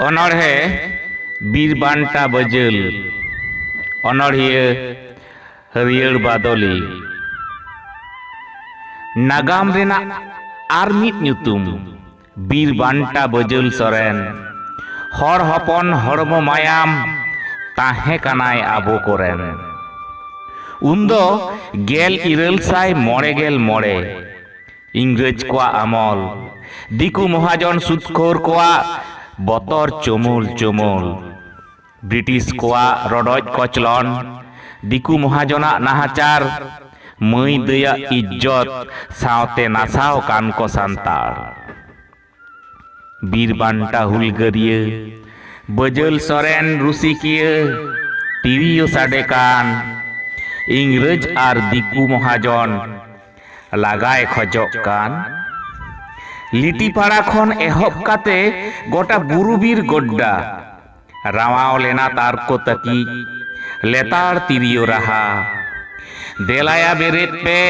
ᱚᱱᱚᱬᱦᱮ ᱵᱤᱨ ᱵᱟᱱᱴᱟ ᱵᱟᱹᱡᱟᱹᱞ ᱚᱱᱚᱬᱦᱤᱭᱟᱹ ᱦᱟᱹᱨᱭᱟᱹᱲ ᱵᱟᱫᱚᱞᱤ ᱱᱟᱜᱟᱢ ᱨᱮᱱᱟᱜ ᱟᱨ ᱢᱤᱫ ᱧᱩᱛᱩᱢ ᱵᱤᱨ ᱵᱟᱱᱴᱟ ᱵᱟᱹᱡᱩᱞ ᱥᱚᱨᱮᱱ ᱦᱚᱲ ᱦᱚᱯᱚᱱ ᱦᱚᱲᱢᱚ ᱢᱟᱭᱟᱢ ᱛᱟᱦᱮᱸ ᱠᱟᱱᱟᱭ ᱟᱵᱚ ᱠᱚᱨᱮᱱ ᱩᱱᱫᱚ ᱜᱮᱞ ᱤᱨᱟᱹᱞ ᱥᱟᱭ ᱢᱚᱬᱮ ᱜᱮᱞ ᱢᱚᱬᱮ ᱤᱝᱨᱮᱡᱽ ᱠᱚᱣᱟᱜ ᱟᱢᱚᱞ ᱫᱤᱠᱩ ᱢᱚᱦᱟᱡᱚᱱ ᱥᱩᱫᱽᱠᱷᱳᱨ ᱠᱚᱣᱟᱜ ᱵᱚᱛᱚᱨ ᱪᱩᱢᱩᱞ ᱪᱩᱢᱩᱞ ᱵᱨᱤᱴᱤᱥ ᱠᱚᱣᱟᱜ ᱨᱚᱰᱚᱡ ᱠᱚᱪᱞᱚᱱ, ᱫᱤᱠᱩ ᱢᱚᱦᱟᱡᱚᱱ ᱟᱜ ᱱᱟᱦᱟᱪᱟᱨ, ᱢᱟᱹᱭ ᱫᱟᱹᱭ ᱟᱜ ᱤᱡᱡᱚᱛ ᱥᱟᱶᱛᱮ ᱱᱟᱥᱟᱣ ᱟᱠᱟᱱ ᱠᱚ ᱥᱟᱱᱛᱟᱲ᱾ ᱵᱤᱨ ᱵᱟᱱᱴᱟ ᱦᱩᱞᱜᱟᱹᱨᱤᱭᱟᱹ ᱵᱟᱹᱡᱟᱹᱞ ᱥᱚᱨᱮᱱ ᱨᱩᱥᱤᱠᱤᱭᱟᱹ ᱛᱤᱨᱤᱭᱳ ᱥᱟᱰᱮ ᱠᱟᱱ ᱤᱝᱨᱟᱹᱡᱽ ᱟᱨ ᱫᱤᱠᱩ ᱢᱚᱦᱟᱡᱚᱱ ᱞᱟᱜᱟᱭ ᱠᱷᱚᱡᱚᱜ ᱠᱟᱱ᱾ ᱞᱤᱴᱤᱯᱟᱲᱟ ᱠᱷᱚᱱ ᱮᱦᱚᱵ ᱠᱟᱛᱮ ᱜᱚᱴᱟ ᱵᱩᱨᱩ ᱵᱤᱨ ᱜᱚᱰᱰᱟ ᱨᱟᱣᱟᱣ ᱞᱮᱱᱟ ᱛᱟᱨᱠᱚ ᱛᱟᱹᱠᱤᱡ ᱞᱮᱛᱟᱲ ᱛᱤᱨᱭᱳ ᱨᱟᱦᱟ ᱫᱮᱞᱟᱭᱟ ᱵᱮᱨᱮᱫ ᱯᱮ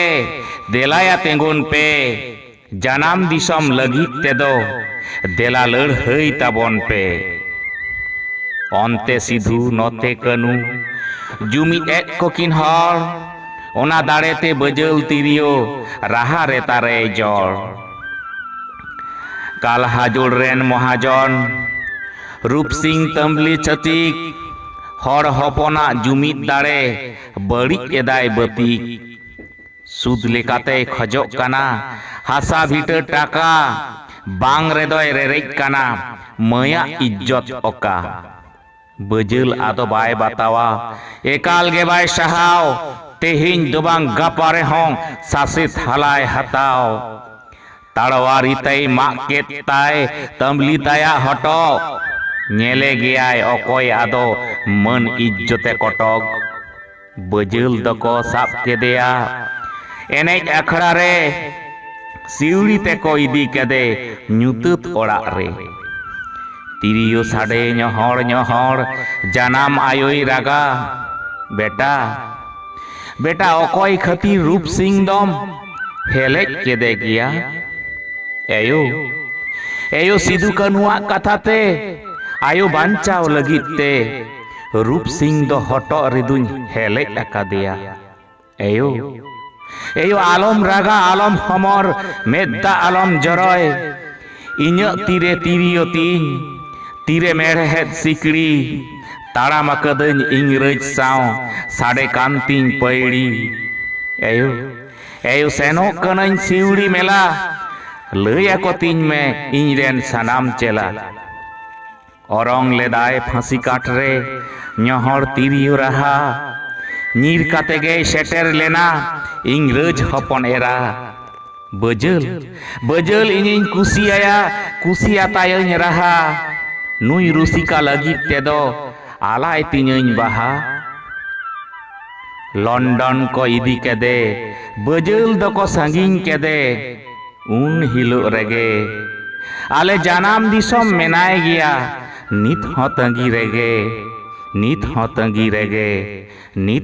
ᱫᱮᱞᱟᱭᱟ ᱛᱮᱸᱜᱚᱱ ᱯᱮ ᱡᱟᱱᱟᱢ ᱫᱤᱥᱚᱢ ᱞᱟᱹᱜᱤᱫ ᱛᱮᱫᱚ ᱫᱮᱞᱟ ᱞᱟᱹᱲᱦᱟᱹᱭ ᱛᱟᱵᱚᱱ ᱯᱮ ᱚᱱᱛᱮ ᱥᱤᱫᱷᱩ ᱱᱚᱛᱮ ᱠᱟᱹᱱᱩ ᱡᱩᱢᱤᱫ ᱮᱫ ᱠᱚᱠᱤᱱ ᱦᱚᱲ ᱚᱱᱟ ᱫᱟᱲᱮᱛᱮ ᱵᱟᱹᱡᱟᱹᱞ ᱛᱤᱨᱭᱳ ᱨᱟᱦᱟ ᱨᱮ ᱛᱟᱨᱮ ᱡᱚᱲ ᱠᱟᱞᱦᱟᱡᱳᱲ ᱨᱮᱱ ᱢᱚᱦᱟᱡᱚᱱ ᱨᱩᱯᱥᱤᱝ ᱛᱟᱹᱢᱵᱽᱞᱤ ᱪᱷᱟᱹᱛᱤᱠ ᱦᱚᱲ ᱦᱚᱯᱚᱱᱟᱜ ᱡᱩᱢᱤᱫ ᱫᱟᱲᱮ ᱵᱟᱹᱲᱤᱡ ᱮᱫᱟᱭ ᱵᱟᱹᱛᱤᱠ ᱥᱩᱫᱽ ᱞᱮᱠᱟᱛᱮᱭ ᱠᱷᱚᱡᱚᱜ ᱠᱟᱱᱟ ᱦᱟᱥᱟ ᱵᱷᱤᱴᱟᱹ ᱴᱟᱠᱟ ᱵᱟᱝ ᱨᱮᱫᱚᱭ ᱨᱮᱨᱮᱡ ᱠᱟᱱᱟ ᱢᱟᱹᱭᱟᱜ ᱤᱡᱽᱡᱚᱛ ᱚᱠᱟ ᱵᱟᱹᱡᱟᱹᱞ ᱟᱫᱚ ᱵᱟᱭ ᱵᱟᱛᱟᱣᱟ ᱮᱠᱟᱞ ᱜᱮ ᱵᱟᱭ ᱥᱟᱦᱟᱣ ᱛᱮᱦᱮᱧ ᱫᱚ ᱵᱟᱝ ᱜᱟᱯᱟ ᱨᱮᱦᱚᱸ ᱥᱟᱥᱮᱛ ᱦᱟᱞᱟᱭ ᱦᱟᱛᱟᱣ ᱛᱟᱲᱣᱟᱨᱤ ᱛᱮᱭ ᱢᱟᱜ ᱠᱮᱫ ᱛᱟᱭ ᱛᱟᱹᱢᱞᱤ ᱛᱟᱭᱟᱜ ᱦᱚᱴᱚᱜ᱾ ᱧᱮᱞᱮ ᱜᱮᱭᱟᱭ ᱚᱠᱚᱭ ᱟᱫᱚ ᱢᱟᱹᱱ ᱤᱡᱡᱚᱛᱮ ᱠᱚᱴᱚᱠ᱾ ᱵᱟᱹᱡᱟᱹᱞ ᱫᱚᱠᱚ ᱥᱟᱵ ᱠᱮᱫᱮᱭᱟ ᱮᱱᱮᱡ ᱟᱠᱷᱲᱟ ᱨᱮ᱾ ᱥᱤᱣᱲᱤ ᱛᱮᱠᱚ ᱤᱫᱤ ᱠᱮᱫᱮ ᱧᱩᱛᱟᱹᱛ ᱚᱲᱟᱜ ᱨᱮ᱾ ᱛᱤᱨᱤᱭᱳ ᱥᱟᱰᱮ ᱧᱚᱦᱚᱲ ᱧᱚᱦᱚᱲ ᱡᱟᱱᱟᱢ ᱟᱭᱳᱭ ᱨᱟᱜᱟ, ᱵᱮᱴᱟ᱾ ᱵᱮᱴᱟ ᱚᱠᱚᱭ ᱠᱷᱟᱹᱛᱤᱨ ᱨᱩᱯ ᱥᱤᱝ ᱫᱚᱢ ᱦᱮᱞᱮᱡ ᱠᱮᱫᱮ ᱜᱮᱭᱟ ᱮᱭᱳ ᱮᱭᱳ ᱥᱤᱫᱩ ᱠᱟᱹᱱᱩᱣᱟᱜ ᱠᱟᱛᱷᱟ ᱛᱮ ᱟᱭᱳ ᱵᱟᱧᱪᱟᱣ ᱞᱟᱹᱜᱤᱫ ᱛᱮ ᱨᱩᱯ ᱥᱤᱝ ᱫᱚ ᱦᱚᱴᱚᱜ ᱨᱮᱫᱩᱧ ᱦᱮᱞᱮᱡ ᱟᱠᱟᱫᱮᱭᱟ ᱮᱭᱳ ᱮᱭᱳ ᱟᱞᱚᱢ ᱨᱟᱜᱟ ᱟᱞᱚᱢ ᱦᱚᱢᱚᱨ ᱢᱮᱫ ᱫᱟᱜ ᱟᱞᱚᱢ ᱡᱚᱨᱚᱭ ᱤᱧᱟᱹᱜ ᱛᱤᱨᱮ ᱛᱤᱨᱭᱳ ᱛᱤᱧ ᱛᱤᱨᱮ ᱢᱮᱬᱦᱮᱫ ᱥᱤᱠᱲᱤ ᱛᱟᱲᱟᱢ ᱟᱠᱟᱫᱟᱹᱧ ᱤᱝᱨᱟᱹᱡᱽ ᱥᱟᱶ ᱥᱟᱰᱮ ᱠᱟᱱ ᱛᱤᱧ ᱯᱟᱹᱭᱲᱤ ᱮᱭᱳ ᱮᱭᱳ ᱥᱮᱱᱚᱜ ᱠᱟᱹᱱᱟᱹᱧ ᱥᱤᱣᱲᱤ ᱢᱮᱞᱟ ᱞᱟᱹᱭ ᱟᱠᱚ ᱛᱤᱧ ᱢᱮ ᱤᱧ ᱨᱮᱱ ᱥᱟᱱᱟᱢ ᱪᱮᱞᱟ ᱚᱨᱚᱝ ᱞᱮᱫᱟᱭ ᱯᱷᱟᱸᱥᱤ ᱠᱟᱴ ᱨᱮ ᱧᱚᱦᱚᱲ ᱛᱤᱨᱭᱳ ᱨᱟᱦᱟ ᱧᱤᱨ ᱠᱟᱛᱮ ᱜᱮᱭ ᱥᱮᱴᱮᱨ ᱞᱮᱱᱟ ᱤᱝᱨᱟᱹᱡᱽ ᱦᱚᱯᱚᱱ ᱮᱨᱟ ᱵᱟᱹᱡᱟᱹᱞ ᱵᱟᱹᱡᱟᱹᱞ ᱤᱧᱤᱧ ᱠᱩᱥᱤᱭᱟᱭᱟ ᱠᱩᱥᱤᱭᱟᱛᱟᱭᱟᱹᱧ ᱨᱟᱦᱟ ᱱᱩᱭ ᱨᱩᱥᱤᱠᱟ ᱞᱟᱹᱜᱤᱫ ᱛᱮᱫᱚ ᱟᱞᱟᱭ ᱛᱤᱧᱟᱹᱧ ᱵᱟᱦᱟ ᱞᱚᱱᱰᱚᱱ ᱠᱚ ᱤᱫᱤ ᱠᱮᱫᱮ ᱵᱟᱹᱡᱟᱹᱞ ᱫᱚᱠᱚ ᱥᱟᱺᱜᱤᱧ ᱠᱮᱫᱮ ᱩᱱ ᱦᱤᱞᱳᱜ ᱨᱮᱜᱮ ᱟᱞᱮ ᱡᱟᱱᱟᱢ ᱫᱤᱥᱚᱢ ᱢᱮᱱᱟᱭ ᱜᱮᱭᱟ ᱱᱤᱛ ᱦᱚᱸ ᱛᱟᱺᱜᱤ ᱨᱮᱜᱮ ᱱᱤᱛ ᱦᱚᱸ ᱛᱟᱺᱜᱤ ᱨᱮᱜᱮ ᱱᱤᱛ